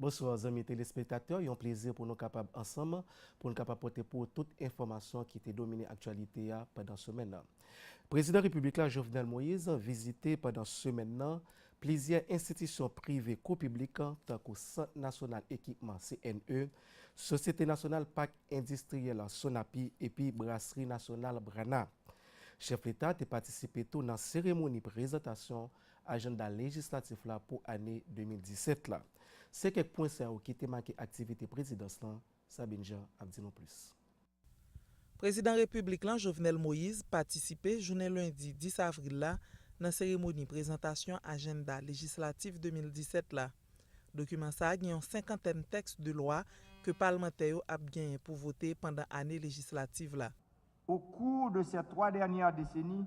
Bonsoir zanmi telespektatè yon plezi pou nou kapab ansanm pou nou kapab pote pou ou tout enfòmasyon ki te domine aktyalite a pandan semèn nan. Prezidan repiblik la Jovenel Moise vizite pandan semèn nan plizyè enstitisyon prive kou piblik tankou Sant Nasyonal Ekipman, CNE, Sosyete Nasyonal Pak Endistriyèl, Sonapi, epi Brasri Nasyonal, Brana. Chèf Leta te patisipe tou nan seremoni prezantasyon ajanda lejislatif la pou ane 2017 la. Se kèk pwen sa yo ki te make aktivite prezidans lan, Sabine Jean ap di nou plis. Prezidan Repiblik lan Jovenel Moise patisipe jounen lendi 10 avril la nan seremoni prezantasyon ajenda lejislatif 2017 la. Dokiman sa gen yon senkantèn tèks de lwa ke palmantè yo ap genyen pou vote pandan ane lejislativ la. Au cours de ces trois dernières décennies,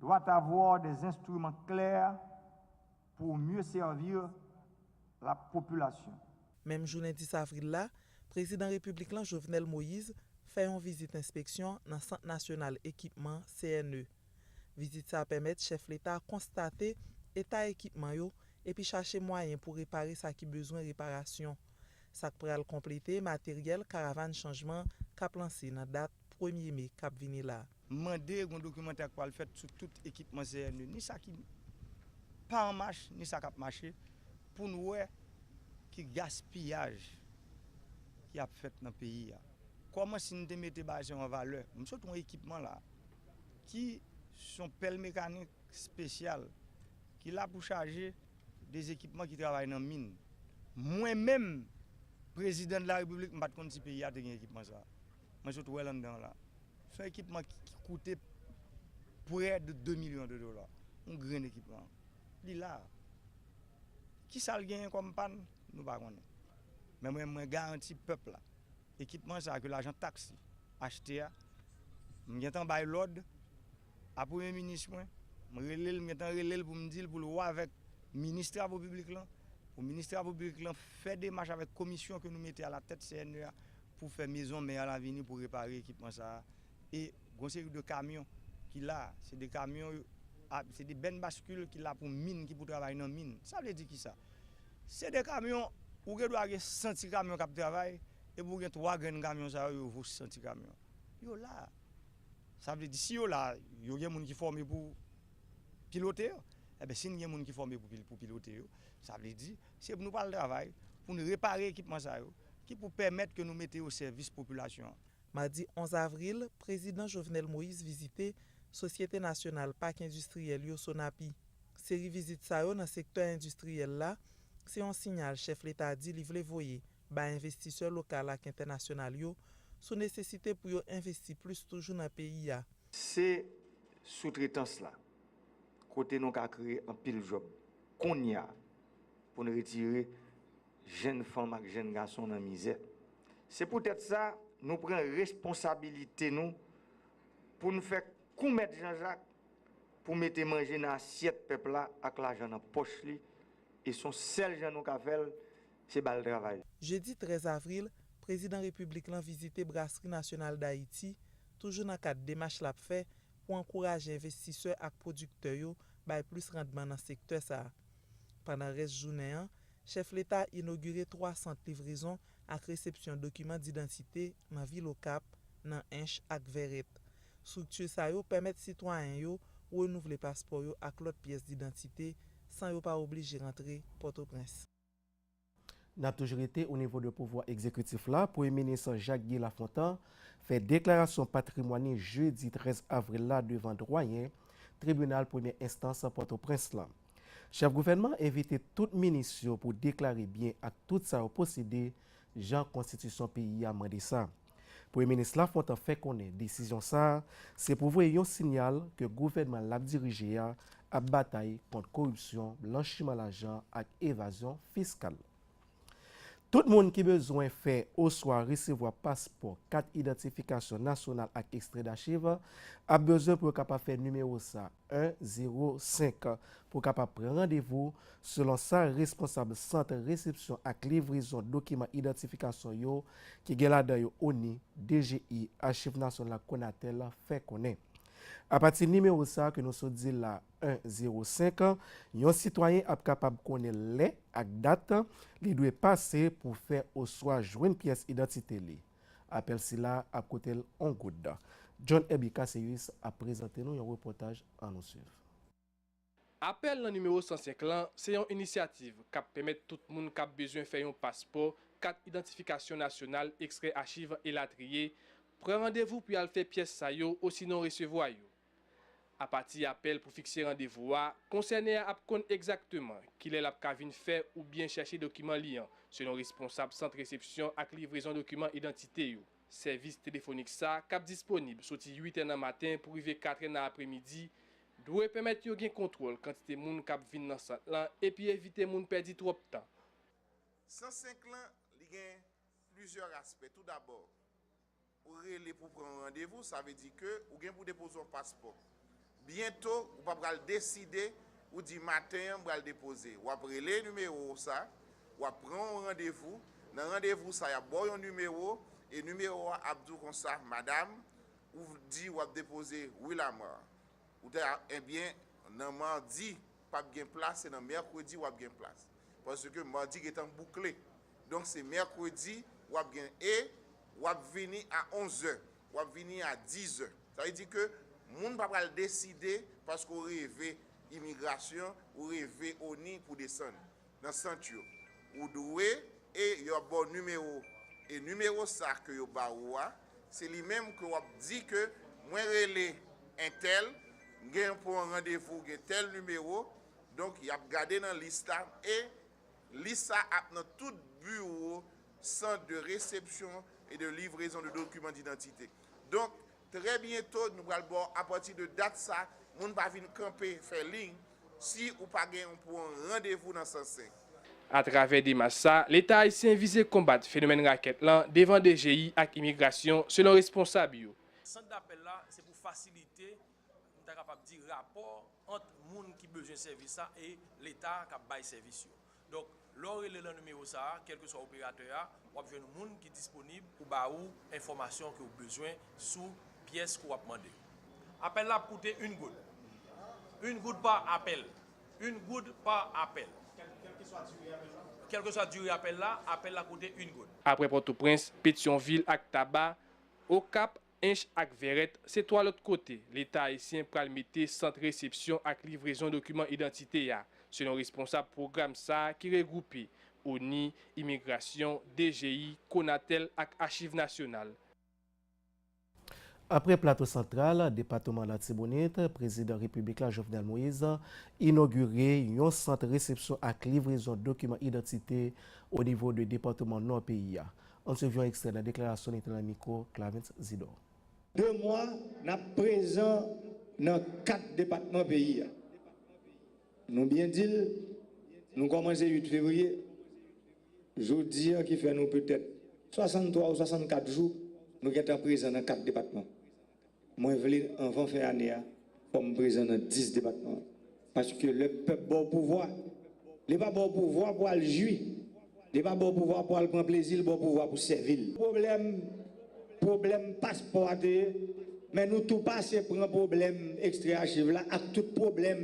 Doit avoir des instruments clairs pour mieux servir la population. Menm jounen 10 avril la, Prezidan Repiblik lan Jovenel Moïse fè yon vizit enspeksyon nan Sant Nasyonal Ekipman, CNE. Vizit sa pèmèt chèf leta a konstate eta ekipman yo epi chache mwayen pou repare sa ki bezwen reparasyon, sa k pral konplete materyèl Karavàn Chanjman k ap lanse nan dat premye me k ap vini la. M mande yon dokimantè k pral fèt sou tout ekipman CNE, ni sa ki pa an mach, ni sa k ap mache, pou n wè ki gaspiyaj ki ap fèt nan peyi a. Kòman si n te mete bagay sa yo an valè? M sot wè ekipman la a, ki s on pèl mekanik spesyal, ki la pou chaje de ekipman ki travay nan min. Mwen menm, Prezidan de la Repiblik, m pa t konn si peyi a te gen ekipman sa a. Mwen sot wè l anndan la. Se yon ekipman ki koute prè de 2 milyon de dola. Yon grenn ekipman. Li la. Ki sa l genyen kòm pàn? Nou pa konnen. Men mwen mwen garanti pèp la, ekipman sa a ke lajan taks li achte a, m gen tan bay lòd a premye minis mwen, m rele l, m gen tan rele l pou m di l pou l wè avèk minis travo piblik lan, pou minis travo piblik lan fè demach avèk komisyon ke nou mete a la tèt CNE a. pou fè mezon mè a lavini pou repare ekipman sa a e gon seri de kamyon ki la a se de kamyon a se de bèn baskil ki la pou min ki pou travay nan min sa vle di kisa se de kamyon ou gen dwa gen 100 ti kamyon k ap travay epi ou gen 3 grenn kamyon sa yo yo vo 100 ti kamyon yo la a sa vle di si yo la a yo gen moun ki fòme pou pilote yo enben si n gen moun ki fòme pou pilote yo sa vle di se pou nou pa al travay pou n repare ekipman sa yo. Ki pou pèmèt ke nou mete yo sèvis popilasyon an. Madi 11 avril, Prezidan Jovenel Moïse vizite Sosyete Nasyonal Pak Endistriyèl yo, Sonapi. Seri vizit sa yo nan sektè endistriyèl la, se yon sinyal chèf leta di li vle voye bay envestisè lokal ak entènasyonal yo sou nesesite pou yo envesti plis toujou nan peyi a. Se soutretans la, kote nou ka kreye anpil djòb kounya pou n retire jenn fanm ak jenn gason nan mizè. Se poutèt sa, nou pran responsabilite nou pou n fè kou Mèt Janjak pou mete manje nan asyèt pèp la ak lajan nan pòch li, e s on sèl jan nou ka fè l, se ba l travay. Jedi 13 avril, Prezidan Repiblik lan vizite Brasri Nasyonal Dayiti, toujou nan kad demach l ap fè pou ankouraje envestisè ak pwodiktè yo bay plis randman nan sektè sa a. Pandan rès jounen an, Chèf Leta inogire 3 sant livrezon ak resepsyon dokiman didantite nan vil Okap, nan Ench ak Vèrèt. Strikti sa yo pèmèt sitwayen yo renouvle paspò yo ak lòt pyès didantite san yo pa oblije rantre Pòtoprens. N ap toujou rete o nivo de pouvwa egzekitif la, Premye Minis Jacques Guy Lafontant fè deklarasyon patrimwàn ni jedi 13 avril la devan Dwayen Tribinal Premyè Enstans Pòtoprens lan. Chèf gouvènman an envite tout minis yo pou deklare byen ak tout sa yo posede jan konstitisyon peyi a mande sa. Premye minis Lafontant fè konnen desizyon sa a se pou voye yon sinyal ke gouvènman l ap dirije a ap batay kont koripsyon, blanchiman lajan ak evazyon fiskal. Tout moun ki bezwen fè oswa resevwa paspò, kat idantifikasyon nasyonal ak ekstrè dachiv, ap bezwen pou yo kapab fè nimewo sa, 1 0 5, pou kapab pran randevou, selon sa responsab Sant Resepsyon ak Livrezon Dokiman Idantifikasyon yo, ki gen ladan yo ONI, DGI, Achiv Nasyonal ak Conatel, fè konnen. Apati nimewo sa ke nou sot di la, 105, Yon sitwayen ap kapab konnen lè ak dat li dwe pase pou fè oswa jwenn pyès idantite li. Apèl sila ap koute l on goud. John Herby Casséus ap prezante nou yon repòtaj an nou swiv. Apèl nan nimewo 105 lan se yon inisyativ k ap pèmèt tout moun k ap bezwen fè yon paspò, kat idantifikasyon nasyonal, ekstrè achiv, elatriye, pran randevou pou y al fè pyès sa yo osinon resevwa yo. Apati apèl pou fikse randevou a, konsène a ap konn egzakteman kilè l ap ka vin fè oubyen chèche dokiman li an, selon responsab Sant Resepsyon ak Livrezon Dokiman Idantite yo. Sèvis telefonik sa k ap disponib soti 8 è nan maten pou rive 4 è nan apremidi dwe pèmèt yo gen kontwòl kantite moun k ap vin nan sant lan epi evite moun pèdi twòp tan. 105 lan, li gen plizyè aspè. Toudabò. Ou rele pou pran yon randevou, sa vle di ke ou gen pou depoze yon paspò. Byento, ou pa pral deside, ou di maten an m pral depoze. W ap rele nimewo w sa, w ap pran yon randevou, nan randevou sa y ap ba w yon nimewo, e nimewo a ap di w konsa, Madam, ou di w ap depoze Willamar. Ou ta ebyen nan mardi pap gen plas se nan mercredi wap gen plas paske mardi gentan boukle donk se mercredi wap gen e wap vini a 11 zè wap vini a 10 zè sa vle di ke moun pa pral deside paske ou reve imigrasyon ou reve oni pou desann nan sant yo ou dwe e yo ap baw nimewo e nimewo sa ke yo ba ou a se li menm ke wap di ke mwen rele entèl m gen pou yon randevou gen tèl nimewo donk yap gade nan lis la e lis sa ap nan tout biwo sant de resepsyon e de livrezon de dokiman didantite donk Trè byento nou pral baw apati de dat sa moun pa vin kanpe fè liy si ou pa gen yon pou yon randevou nan sans se. Atravè demach sa, Leta ayisyen vize konbat fenomèn rakèt lan devan dgi ak imigrasyon selon responsab yo. Sant dapèl la se pou fasilite, m ta kapab di rapò ant moun ki bezwen sèvis la e Leta kap bay sèvis yo. Donk, lè w rele nan nimewo sa a, kèlkeswa operatè a, w ap jwenn moun ki disponib pou ba ou enfòmasyon ke w bezwen sou pyès ke w ap mande. Apèl la ap koute yn goud. Yn goud pa apèl. Yn goud pa apèl. Kèlkeswa dire apèl la? Kèlkeswa dire apèl la, apèl la koute yn goud. Aprè Pòtoprens, Petyonvil ak Taba, Okap Ench ak Vèrèt se 3 lòt kote Leta ayisyen pral mete sant resepsyon ak livrezon dokiman idantite a, selon responsab pwogram sa a ki regwoupe, ONI, Imigrasyon, DGI, Konatel ak Achiv Nasyonal. Apre Plato Santral, depatoman Latibonit, Prezidan Repiblik la Jovenel Moise inogire yon sant resepsyon ak livrezon dokiman idantite onivo 2 depatoman Nò peyi a. Ann swiv yon ekstrè nan deklarasyon li te nan mikwo Clavens Zidor. 2 mwa n ap prezan nan 4 depatman peyi a. Nou byen di l, nou kòmanse 8 fevriye, jodi an ki fè nou petèt 63 ou 64 jou nou gentan prezan nan 4 depatman. Mwen vle anvan fen ane a fò m prezan nan 10 depatman paske lè pèp baw pouvwa li pa baw pouvwa pou al jwi li pa baw pouvwa pou al pran plezi li baw pouvwa pou sèvi l. Pwoblèm pwoblèm paspò a te ye men nou tou pase pran pwoblèm ekstrè achiv la ak tout pwoblèm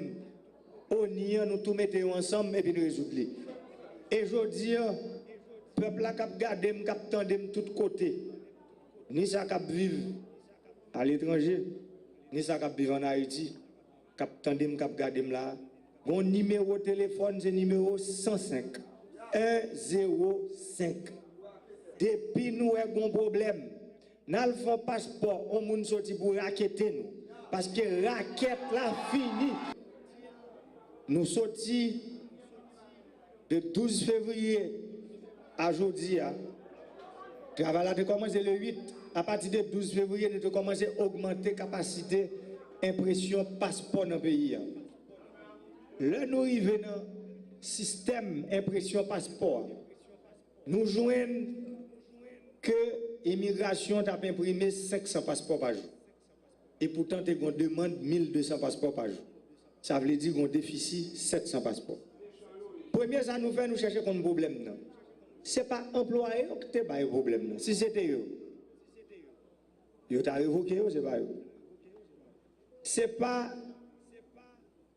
Oni an nou tou mete yo ansanm epi n rezoud li e jodi an pèp la k ap gade m k ap tande m tout kote Ni sa k ap viv aletranje, ni sa k ap viv ann Ayiti, k ap tande m, k ap gade m la a, gen yon nimewo telefòn, se nimewo 105, 1 0 5. Depi nou wè gen yon pwoblèm, n al fè yon paspò, yon moun soti pou rakete nou, paske rakèt la fini. Nou soti. De 12 fevriye a jodi a, travay la te kòmanse le 8. Apati de 12 fevriye, nou te kòmanse ogmante kapasite enpresyon paspò nan peyi a. Lè nou rive nan sistèm enpresyon paspò a, nou jwenn ke imigrasyon t ap enprime 500 paspò pa jou. e poutan te gon demand 1200 paspò pa jou. Sa vle di gon defisi 700 paspò. Premye sa nou fè nou chèche konn pwoblèm nan. Se pa anplwaye yo ki te ba yo pwoblèm nan. Si se te yo, yo ta revoke yo, se pa yo. Se pa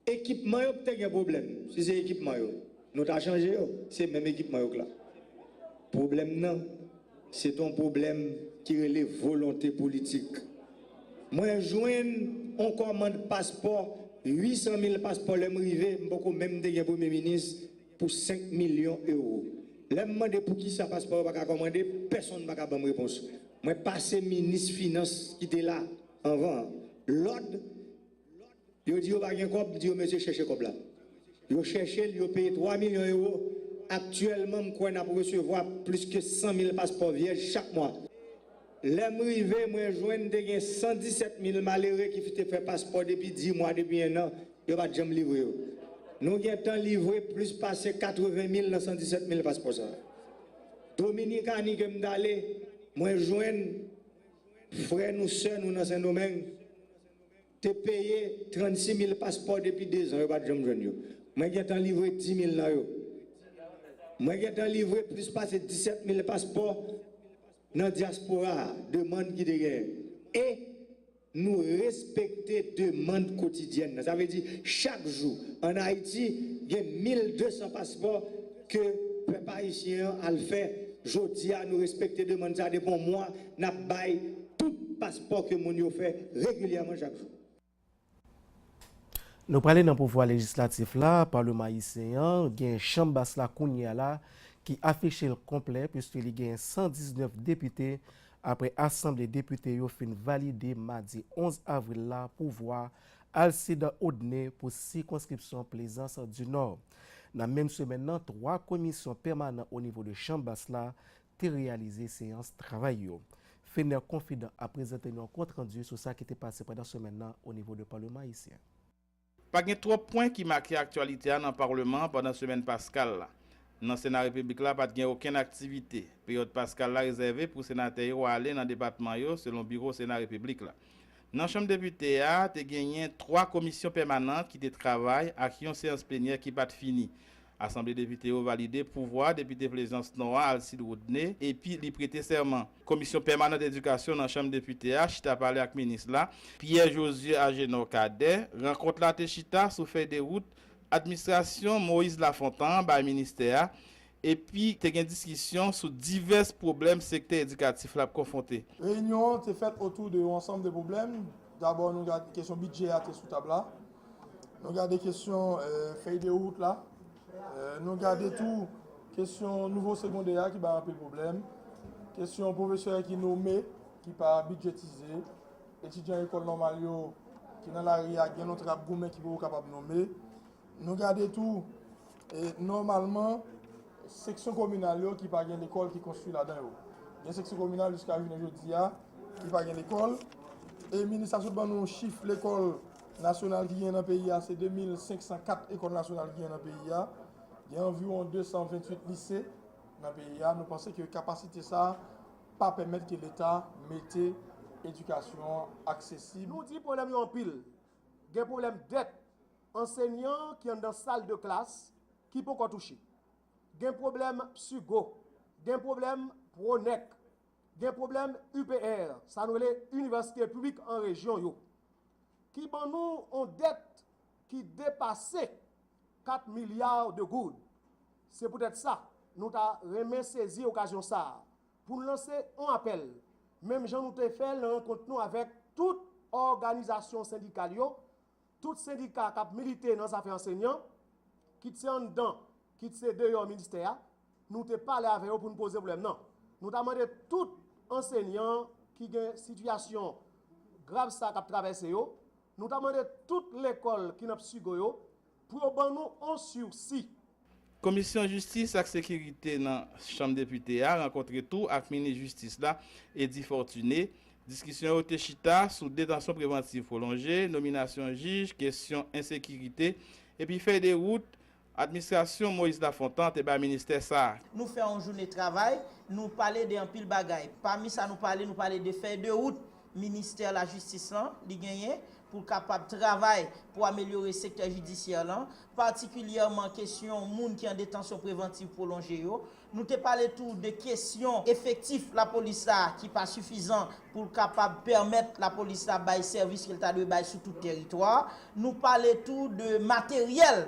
Ekipman yo k te gen pwoblèm. Si se ekipman yo, nou ta chanje yo. Se menm ekipman yo k la. Pwoblèm nan, se te yon pwoblèm ki rele volonte politik. Mwen jwenn yon kòmand paspò, 800 mil paspò lè m rive, m poko menm te gen premye minis, pou 5 milyon ewo. Lè m mande pou ki sa paspò yo pa ka kòmande, pèsonn pa ka ban m repons. Mwen pase minis finans ki te la anvan an lòd. Yo di yo pa gen kòb, m di yo mesye chèche kòb la. Yo chèche l, yo peye 3 milyon ewo, aktyèlman m kwè n ap resevwa plis ke 100 mil paspò vyèj chak mwa. Lè m rive, mwen jwenn te gen 117 mil malere ki te fè paspò depi 10 mwa, depi ennan, yo pa t janm livre yo. Nou gen tan livre plis pase 80 mil nan 117 mil paspò sa a. Dominikani ke m t ale, mwen jwenn frè nou, sè nou nan Sendomeng. Te peye 36 mil paspò depi 2 zan yo pat janm jwenn yo. Mwen gentan livre 10 mil nan yo. Mwen gentan livre plis pase 17 mil paspò nan dyaspora a, demand ki te genyen. E nou respekte demand kotidyèn nan. Sa vle di chak jou an Ayiti gen 1200 paspò ke pèp ayisyen an al fè. Jodi a nou respekte demand sa depi yon mwa. n ap bay tout paspò ke moun yo fè regilyèman chak jou. Nou prale nan pouvwa lejislatif la, palman ayisyen an, gen chanm bas la kounye a la ki afiche l konplè puiske li gen 119 depite apre asanble depite yo fin valide madi 11 avril la pouvwa Alcide Audne pou sikonskripsyon Plaisance du Nord. Nan menm semèn nan, 3 komisyon pèmanan onivo de chanm bas la te reyalize seyans travay yo. Fener Confident ap prezante nou yon kont randi sou sa ki te pase pandan semèn nan o nivo de Parleman Ayisyen. Pa gen twòp pwen ki make aktyalite a nan Parleman an pandan semèn Paskal la. Nan Sena Repiblik la pat gen okenn aktivite. Peryòd Paskal la rezève pou senatè yo ale nan depatman yo selon biwo Sena Repiblik la. Nan Chanm Depite a, te genyen 3 komisyon pèmanant ki te travay ak yon seyans plenyè ki pat fini. Asanble Depite yo valide pouvwa Depite Plezans Nò a Alcide Rodney epi li prete sèman. Komisyon Pèmanant Edikasyon nan Chanm Depite a chita pale ak Minis la, Pierre Josué Agénor Cadet. Rankont la te chita sou fèy de wout Administrasyon Moïse Lafontan an bay Ministè a epi te gen diskisyon sou divès pwoblèm sektè edikatif la ap konfwonte. Reyinyon an te fèt otou de yon ansanm de pwoblèm. Dabò nou gad kesyon bidjè a te sou tab la. Nou gade kesyon fèy de wout la, nou gade tou kesyon nouvo segondè a ki bay anpil pwoblèm, kesyon pwofesè ki nome ki pa bidjetize, etidyan lekòl nòmal yo ki nan lari a gen lòt yo k ap goumen ki poko kapab nome. Nou gade tou nòmalman seksyon kominal yo ki pa gen lekòl ki konstwi ladan yo. Gen seksyon kominal jiska jounen jodi a ki pa gen lekòl e minis la sot ban nou chif lekòl. Nasyonal ki genyen nan peyi a se 2504 ekòl nasyonal ki genyen nan peyi a. Gen anviwon 228 lise nan peyi a. Nou panse ke kapasite sa a pa pèmèt ke leta mete edikasyon an aksesib. Nou di pwoblèm yo anpil. Gen pwoblèm dèt ansenyan ki anndan sal de klas ki ponkò touche. Gen pwoblèm PSUGO. Gen pwoblèm PRONEC. Gen pwoblèm UPR, sa nou rele Inivèsite Piblik an Rejyon yo, ki ban nou yon dèt ki depase 4 milya de goud. Se poutèt sa, nou ta renmen sezi okazyon sa a pou n lanse yon apèl, menm jan nou te fè l nan rankont nou avèk tout òganizasyon sendikal yo, Tout sendika k ap milite nan zafè ansenyan, kit se anndan, kit se deyò ministè a, nou te pale avè yo pou n poze pwoblèm nan. Nou ta mande tout ansenyan ki gen sitiyasyon grav sa k ap travèse yo, nou ta mande tout lekòl ki nan psigo yo, pou yo ban nou on sirsi. Komisyon Jistis ak Sekirite nan Chanm Depite a rankontre tou ak Minis Jistis la, Eddy Fortuné. Diskisyon yo te chita sou detansyon prevantiv pwolonje, nominasyon jij, kesyon ensekirite, epi fèy de wout Administrasyon Moïse Lafontant te bay ministè sa a. Nou fè yon joune travay, nou pale de anpil bagay. Pami sa nou pale, nou pale de fèy de wout Ministè lajistis lan, li genyen, pou l kapab travay pou amelyore sektè jidisyè lan, patikilyèman kesyon moun ki an detansyon prevantiv pwolonje yo. Nou te pale tou de kesyon efektif lapolis la ki pa sifizan pou l kapab pèmèt lapolis la bay sèvis ke l ta dwe bay sou tout teritwa a. Nou pale tou de materyèl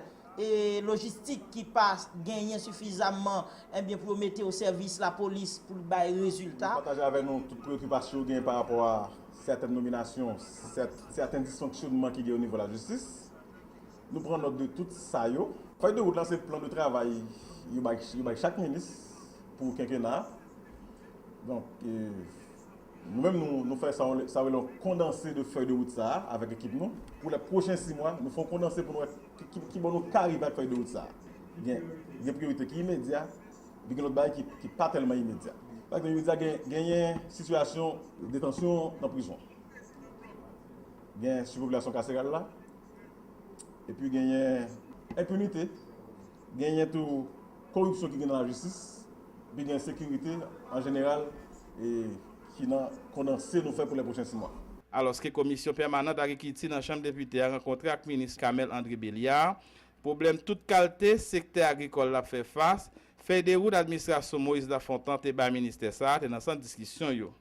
lojistik ki pa genyen sifizamman enbyen pou yo mete o sèvis lapolis pou l bay rezilta. Li pataje avè nou tout preyokipasyon yo genyen pa rapò a sèten nominasyon, sèten disfonksyonman ki genyen o nivo lajistis. Nou pran nòt de tout sa yo. Fèy de wout la se plan de travay yo bay chak minis pou kenkena a. Donk, nou menm nou fè sa yo rele yon kondanse de fèy de wout sa a avèk ekip nou. Pou lè pwochen si mwa, nou fè yon kondanse pou nou wè. Ki bò nou ka rive ak fèy de wout sa a? Gen gen priyorite ki imedya, epi gen lòt bagay ki ki pa tèlman imedya. Pa egzanp, imedya gen genyen sitiyasyon detansyon nan prizon. Gen sipopilasyon kaseral la, epi genyen enpinite, genyen tou koripsyon ki gen nan lajistis, epi gen ensekirite an jeneral e. Ki nan kondanse nou fè pou lè pwochen si mwa. Alòske komisyon pèmanant agrikilti nan chanm depite a rankontre ak minis Camel André Belliard, pwoblèm tout kalte sektè agrikòl la ap fè fas, fèy de wout administrasyon Moïse Lafontant te bay ministè sa a te nan sant diskisyon yo.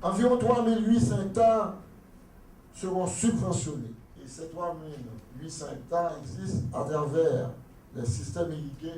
Anviwon 3,800 ekta seront subventionnes. E sè 3,800 ekta egzis atravè lè sistèm irige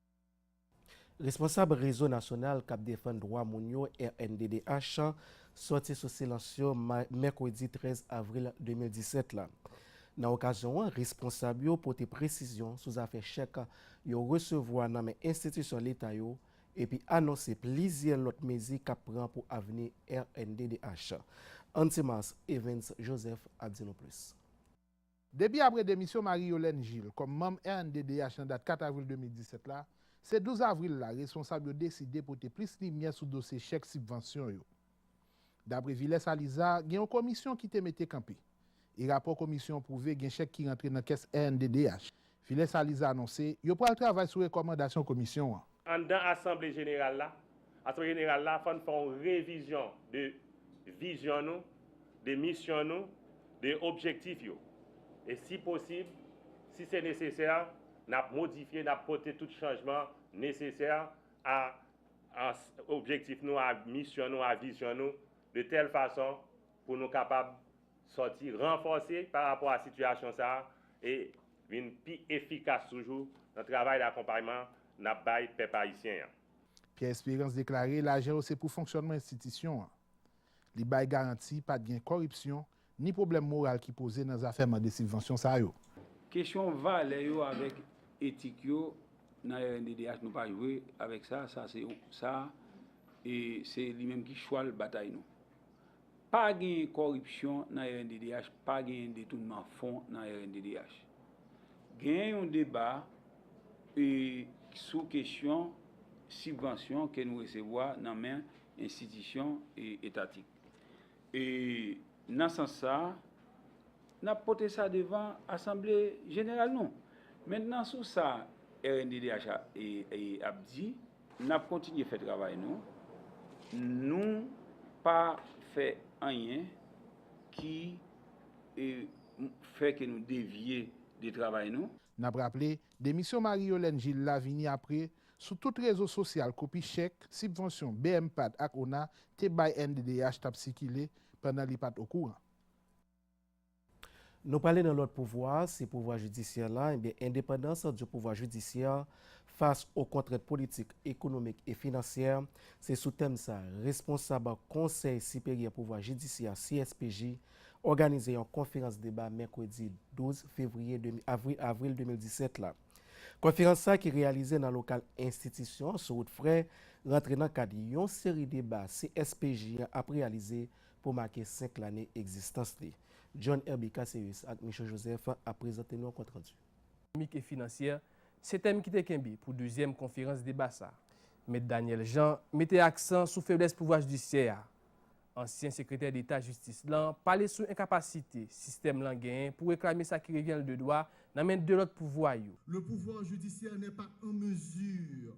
Responsab Rezo Nasyonal k ap Defann Dwa Moun yo, rnddh, sòti sou silans yo mèkredi 13 avril 2017 la. Nan okazyon an, responsab yo pote presizyon sou zafè chèk yo resevwa nan men enstitisyon leta yo epi anonse plizyè lòt mezi k ap pran pou avni rnddh. Antimars Evens Joseph ap di nou plis. Depi apre demisyon Marie Yolène Gilles kòm manm rnddh nan dat 4 avril 2017 la, se 12 avril la responsab yo deside pote plis limyè sou dosye chèk sibvansyon yo. Dapre Vilès Aliza, gen yon komisyon ki te mete kanpe, e rapò komisyon an pwouve gen chèk ki rantre nan kès rnddh Filè Saliza anonse yo pral travay sou rekòmandasyon komisyon an. Anndan asanble jeneral la, asanble jeneral la fò n fè yon revizyon de vizyon nou, de misyon nou, de objektif yo. E si posib, si se nesesè, n ap modifye, n ap pote tout chanjman nesesè a objektif nou, a misyon nou, a vizyon nou, de tèl fason pou nou kapab sòti ranfòse pa rapò a sitiyasyon sa a e vin pi efikas toujou nan travay dakonpayman n ap bay pèp ayisyen an. Pierre Espérance deklare lajan yo se pou fonksyònman enstitisyon an. Li bay garanti pa t gen kòripsyon ni pwoblèm moral ki poze nan zafè mande sibvansyon sa yo. Kesyon valè yo avèk etik yo nan rnddh nou pa jwe avèk sa, sa se yon sa e se li menm ki chwal batay nou. Pa genyen kòripsyon nan rnddh, pa genyen detounman fon nan rnddh. Genyen yon deba sou kesyon sibvansyon ke nou resevwa nan men enstitisyon etatik. E nan sans sa, n ap pote sa devan asanble jeneral nou. Mentnan sou sa rnddh ap di, N ap kontinye fè travay nou. Nou pa fè anyen ki fè ke nou devye de travay nou. N ap raple, demisyon Marie Yolène Gilles la vini apre, sou tout rezo sosyal kopi chèk, sibvansyon BMPADH ak ona te bay nddh t ap sikile, pandan li pa t okouran. Nou prale nan lòt pouvwa, se pouvwa jidisyè la, enben endepandans du pouvoir judiciaire face aux contraintes politiques, économiques et financières, se sou tèm sa, responsab Konsèy Siperyè Pouvwa Jidisyè, CSPJ, òganize yon konferans deba mèkredi 12 fevriye, avril 2017 la. Konferans sa ki reyalize nan lokal enstitisyon an sou wout Frè, rantre nan kad yon seri deba CSPJ an ap reyalize pou make 5 lane egzistans li. John Herby Caceres ak Michaux Joseph ap prezante nou kont randu. Ekonomik e finansyè, se tèm ki te kenbe pou dezyèm konferans deba sa. Mèt Daniel Jean mete aksan sou feblès pouvwa jidisyè a. Ansyen sekretè deta jistis lan pale sou enkapasite sistèm lan genyen pou reklame sa ki revyen l de dwa nan men 2 lòt pouvwa yo. Le pouvoir judiciaire n'est pas en mesure.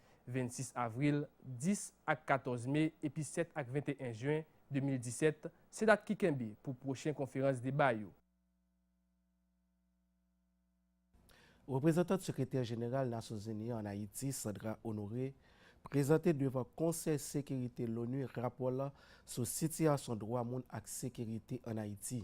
26 avril, 10 ak 14 me epi 7 ak 21 jen 2017, se dat ki kenbe pou pwochen konferans deba yo. Reprezantant Sekretè Jeneral Nasyonzini yo ann Ayiti, Sandra Honoré, prezante devan Konsèy Sekirite l onu rapò l sou sitiyasyon dwa moun ak sekirite ann Ayiti.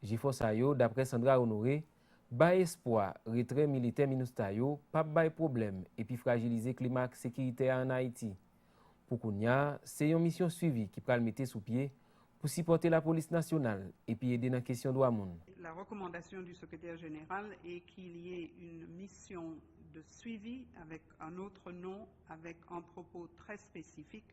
Jefò sa yo, daprè Sandra Honoré, bay espwa retrè militè Minustah yo pap bay pwoblèm epi frajilize klima sekiritè a an Ayiti. Pou kounya, se yon misyon swivi ki pral mete sou pye pou sipòte lapolis nasyonal epi ede nan kesyon dwa moun. La recommandation du secrétaire général est qu'il y ait une mission de suivi avec un autre nom, avec un propos très spécifique,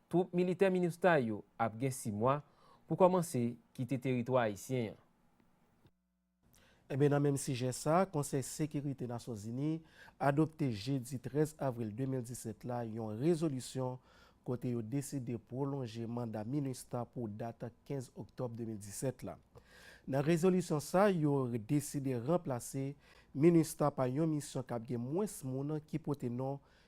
Twoup militè Minustah yo ap gen si mwa pou kòmanse kite teritwa ayisyen an. Enben nan menm sijè sa, Konsèy Sekirite Nasyonzini adopte jedi 13 avril 2017 la yon rezolisyon kote yo deside pwolonje manda Minustah pou dat 15 oktòb 2017 la. Nan rezolisyon sa, yo deside ranplase Minustah pa yon misyon k ap gen mwens moun ki pote non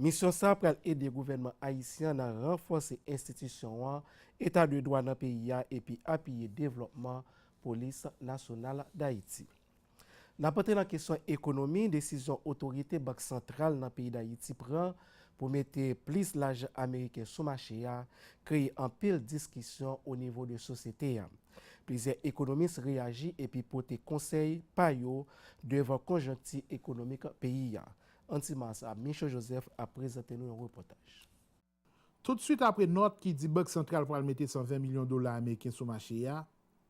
Misyon sa pral ede gouvènman ayisyen an nan ranfòse enstitisyon an, eta de dwa nan peyi a epi apiye devlòpman Polis Nasyonal Dayiti. Nan pote nan kesyon ekonomi, desizyon otorite Bank Santral nan peyi Dayiti pran pou mete plis lajan ameriken sou mache a kreye anpil diskisyon o nivo de sosyete a. Plizyè ekonomis reyaji epi pote konsèy pa yo devan konjonkti ekonomik peyi a. An ti ma sa, Michaux Joseph ap prezante nou yon repòtaj. Tout swit apre nòt ki di Bank Santral pral mete 120 milyon dola ameriken sou mache a,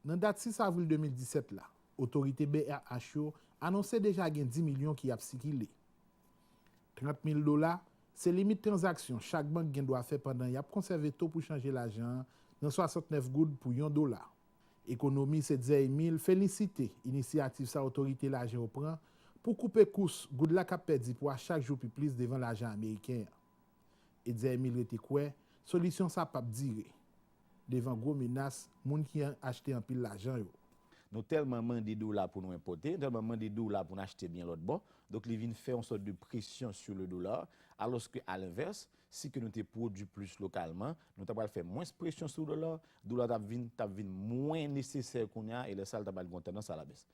nan dat 6 avril 2017 la, otorite brh yo anonse deja gen 10 milyon ki ap sikile. 30 mil dola, se limit tranzaksyon chak bank gen dwa fè pandan y ap konsève to pou chanje lajan an nan 69 goud pou yon dola. Ekonomi se Zeimi l felisite inisyativ sa otorite laje yo pran pou koupe kous goud la k ap pèdi pwa chak jou pi plis devan lajan ameriken an. E Zeimi l rete kwè solisyon sa p ap dire devan gwo menas moun ki achte anpil lajan yo. Nou tèlman mande dola pou nou enpòte, nou tèlman mande dola pou n achte byen lòtbò, donk li vin fè yon sòt de presyon sou le dollar, alòske alenvèse, Si ke nou te pwodwi plis lokalman, nou ta pral fè mwens presyon sou dola, dola ta vin ta vin mwen nesesè kounye a e lè sa l ta pral gen yon tandans alabès.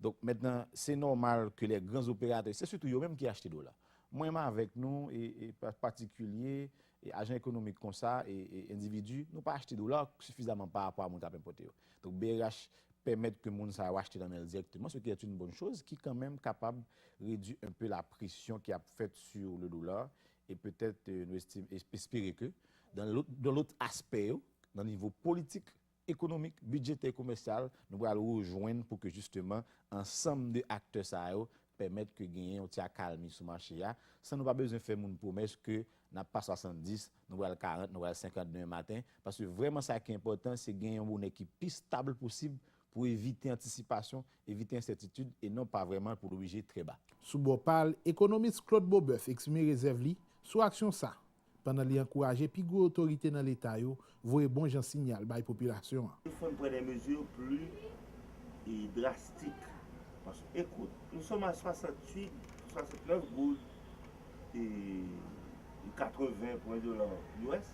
Donk mentnan se nòmal ke lè gran operatè, se sitou yo menm ki achte dola. Mwen m avèk nou e e patikilye e ajan ekonomik konsa e e endividi, nou pa achte dola sifizaman pa rapò a moun k ap enpòte yo. Donk brh pèmèt ke moun sa yo achte nan men l dirèkteman, se ki è yn bon choz ki kanmenm kapab redwi enpe la presyon ki ap fèt su le dola E petèt nou estim, e espere ke, dan lôt, dan lôt aspè yo, nan nivo politik, ekonomik, bidjetè, komèsyal, nou pral rejwenn pou ke jisteman ansanm de aktè sa yo pèmèt ke genyen yon ti akalmi sou mache a, san nou pa bezwen fè moun pwomès ke n ap pa 70, nou pral 40, nou pral 50 demen maten, paske vrèman sa ki enpòtan se gen yon bonè ki pi stab posib pou evite antisipasyon, evite ensètitid e non pa vrèman pou l oblije trè ba. Sou bò pa l, ekonomis Claude Beauboeuf eksprime rezèv li sou aksyon sa, pandan li ankouraje pi gwo otorite nan Leta yo voye bon jan sinyal bay popilasyon an. Il fò n pran dè mezi pli drastik, paske ekout, nou sòm a 68, 69 goud e 80 pwen dola us,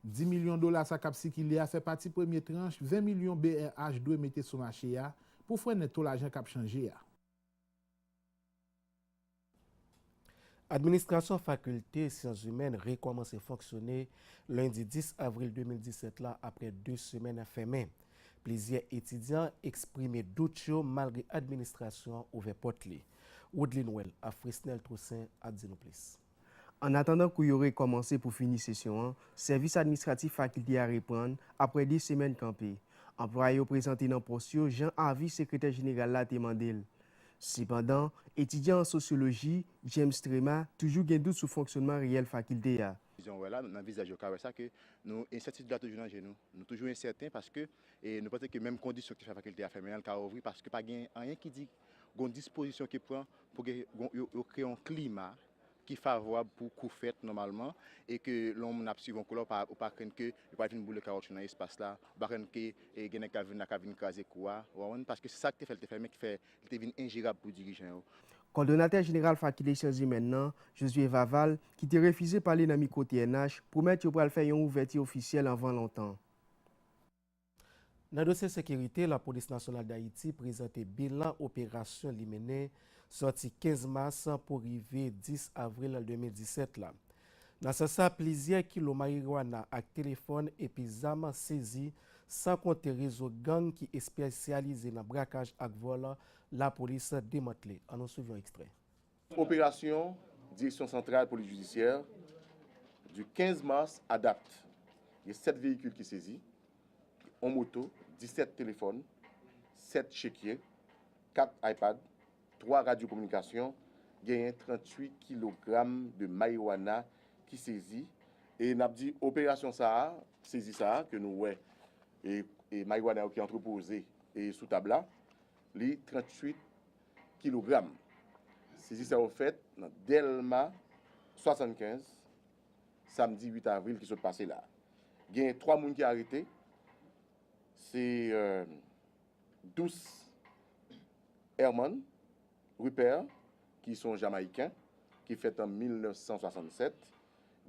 Di milyon dola sa k ap sikile a fè pati premye tranch 20 milyon brh dwe mete sou mache a pou frennen to lajan k ap chanje a. Administrasyon Fakilte Syanzimèn rekòmanse fonksyone lendi 10 avril 2017 la aprè 2 semèn fèmen. Plizyè etidyan eksprime dout yo malgre administrasyon an ouvè pòt li. Woodline Well ak Fresnel Toussaint ap di nou plis. Annatandan kou yo rekòmanse pou fini sesyon an, sèvis administratif fakilte a reprann aprè 2 semèn kanpe. Anplwaye yo prezante nan pòs yo jan avi sekretè jeneral la te mande l. Sepandan, etidyan an sosyoloji, James Trema, toujou gen dout sou fonksyònman reyèl fakilte a. Jan w wè la, nan vizaj yo ka wè sa ke nou ensètitid la toujou nan je nou. Nou toujou ensèten paske nou panse ke menm kondisyon ki fè fakilte a fèmen an li ka ouvri paske pa gen anyen ki di gon dispozisyon ki pran pou gen yo kreye yon klima ki favorab pou kou fèt nòmalman e ke lè yon moun ap swiv yon kou la ou pa krenn ke yo pral vin boule kawotchou nan espas la, ou pa krenn ke gen nèg kap vin la kap vin kraze kou a, ou konprann, paske se sak te fè li te fèmen ki fè li te vin enjerab pou dirijan yo. Kòdonatè jeneral Fakilte Syanzimèn nan, Josué Vaval, ki te refize pale nan mikwo TNH, pwomèt yo pral fè yon ouvèti ofisyèl anvan lontan. Nan dosye sekirite, Lapolis Nasyonal Dayiti prezante bilan operasyon li mennen sòti 15 mas pou rive 10 avril 2017 la. Nan sans sa, plizyè kilo marijuana ak telefòn epi zam sezi, san konte rezo gang ki espesyalize nan brakaj ak vòl, Lapolis demantle. An nou swiv yon ekstrè. Operasyon Direksyon Santral Polis Jidisyè du 15 mars a dat, gen 7 veyikil ki sezi, on moto, 17 telefòn, 7 chekye, 4 ipad, 3 radyo kominikasyon, genyen 38 kilogram de marijuana ki sezi e n ap di operasyon sa a, sezi sa a ke nou wè e marijuana yo ki antrepoze sou tab la, li 38 kilogram. Sezi sa yo fèt nan Dèlma 75 samdi 8 avril ki sot pase la. Genyen 3 moun ki arete, se Dous Herman Ruper ki son Jamayiken ki fèt an 1967,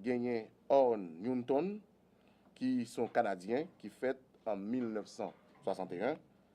genyen Orn Newton ki son Kanadyen ki fèt an 1961,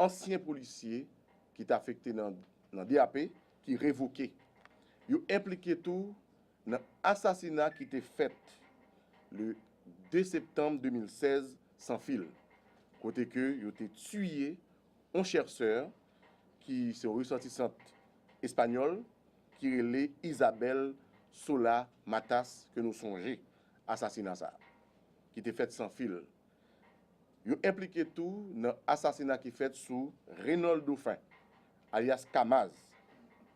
Ansyen polisye ki te afekte nan DAP ki revoke. Yo enplike tou nan asasina ki te fèt le 2 septanm 2016 San Fil, kote ke yo te tiye on chèrsè ki se yon resòtisant espanyòl ki rele Isabel Sola Matas ke nou sonje asasina sa ki te fèt San Fil. Yo enplike tou nan asasina ki fèt sou Reynold Dauphin, alyas Kamaz,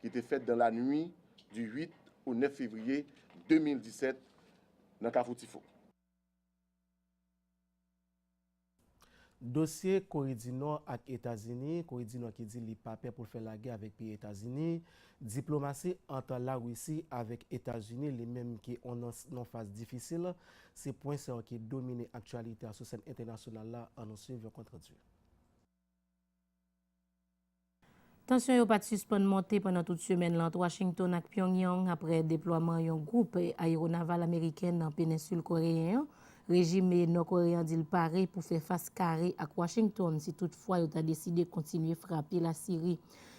ki te fèt dan lanui di 8 o 9 fevriye 2017 nan Kafou Tifo. Dosye Kore di Nò ak Etazini, Kore di Nò ki di li pa pè pou l fè lagè avèk peyi Etazini, Diplomasi ant Larisi avèk Etazini, li menm ki on nan non faz difisil, se pwen sa yo ki domine aktyalite a sou sèn entènasyonal la, an nou swiv yon kontradi. Tansyon yo pat sispann monte pandan tout semèn lan ant Washington ak Pyongyang apre deplwaman yon gwoup ayeronaval ameriken nan penensil koreyen an. Rejim Nò Kore an di l pare pou fè fas kare ak Washington si tout fwa yo ta deside kontinye frape Lasiri.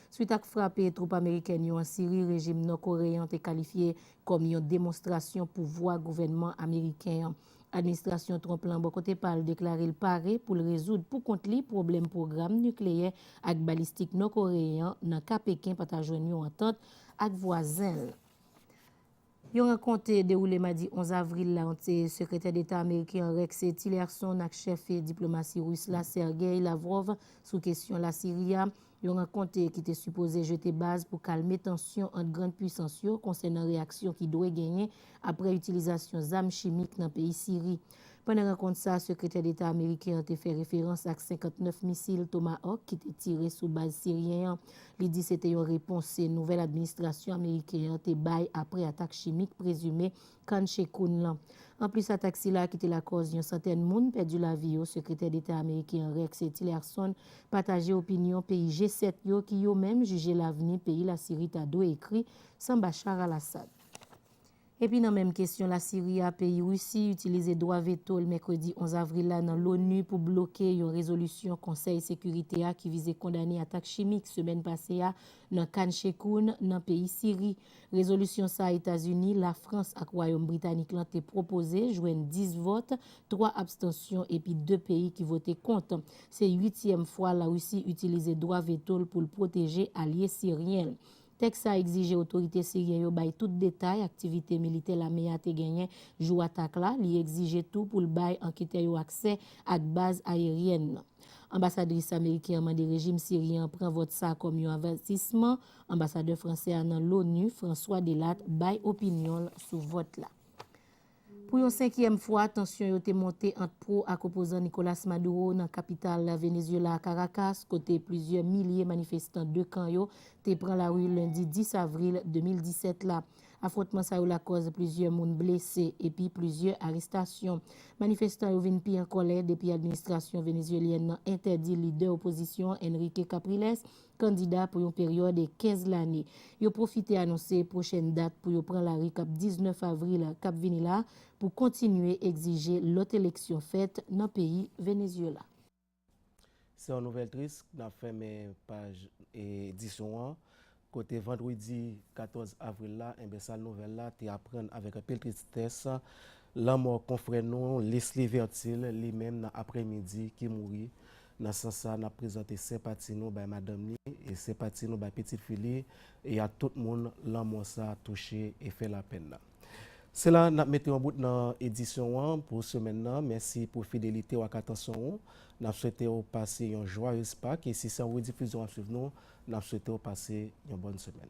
Swit ak frape twoup amerikèn yo an Siri rejim nò koreyen an te kalifye kòm yon demonstrasyon pouvwa gouvènman ameriken an. Administrasyon Trump lan bò kote pa l deklare l pare pou l rezoud pou kont li pwoblèm pwogram nikleyè ak balistik nò koreyen an nan ka Peken pa ta jwenn yon antant ak vwazen l Yon rankont te dewoule madi 11 avril la ant Sekretè Deta ameriken an Rex Tillerson ak chèf diplomasi ris la Sergei Lavrov sou kesyon Lasiri a, yon rankont ki te sipoze jete baz pou kalme tansyon ant grand puisans yo konsènan reyaksyon ki dwe genyen apre itilizasyon zam chimik nan peyi Siri. Pandan rankont sa, Sekretè Deta ameriken an te fè referans ak 59 misil Tomahawk ki te tire sou baz siryen an. Li di se te yon repons nouvèl administrasyon ameriken an te bay apre atak chimik prezime Khan Sheikhoun lan. Anplis atak sila ki te lakòz yon santèn moun pèdi lavi yo, Sekretè Deta ameriken an Rex Tillerson pataje opinyon peyi G-7 yo ki yo menm jije lavni peyi Lasiri ta dwe ekri san Bashar al-Assad. Epi nan menm kesyon Lasiri a, peyi Risi itilize dwa veto l mèkredi 11 avril la nan LONU pou bloke yon rezolisyon Konsèy Sekirite a ki vize kondane atak chimik semèn pase a nan Khan Sheikhoun, nan peyi Siri. Rezolisyon sa a Etazini, Lafrans ak Wayòm Britanik lan te pwopoze jwenn 10 vòt, 3 abstansyon epi 2 peyi ki vote kont. Se uityèm fwa Larisi itilize dwa veto l pou l pwoteje alye siryen l. Tèks sa egzije otorite siryen yo bay tout detay aktivite militè lame a te genyen jou atak la, li egzije tou pou l bay anketè yo aksè ak baz ayeryèn nan. Anbasadris ameriken an mande rejim siryen an pran vòt sa kòm yon avètisman, anbasadè fransè a nan LONU, François Delatte, bay opinyon l sou vòt la. Pou yon senkyèm fwa, tansyon yo te monte ant pro ak opozan Nicolas Maduro nan kapital Venezyela, Karakas, kote plizyè milye manifestan 2 kan yo te pran lari lendi 10 avril 2017 la. Afwontman sa yo lakòz plizyè moun blese epi plizyè arestasyon. Manifestan yo vin pi an kòlè depi administrasyon venezyelyèn nan entèdi lidè opozisyon an Enrique Capriles kandida pou yon peryòd 15 lane. Yo pwofite anonse pwochèn dat pou yo pran lari kap 19 avril kap vini la pou kontinye egzije lòt eleksyon fèt nan peyi Venezyela. Se yon nouvèl tris k nap fèmen paj edisyon an kote vandredi 14 avril la enben sal nouvèl la te aprann avèk anpil tristès lanmò konfrè nou Lesly Vertil li menm nan aprè midi ki mouri Nan sans sa, n ap prezante senpati nou bay madanm li e senpati nou bay pitit fi li e ak tout moun lanmò sa touche e fè lapèn nan. Se la n ap mete yon bout nan edisyon an pou semèn nan. Mèsi pou fidelite w ak atansyon ou. N ap swete w pase yon jwayez Pak e si se an redifizyon w ap swiv nou, n ap swete w pase yon bòn semèn.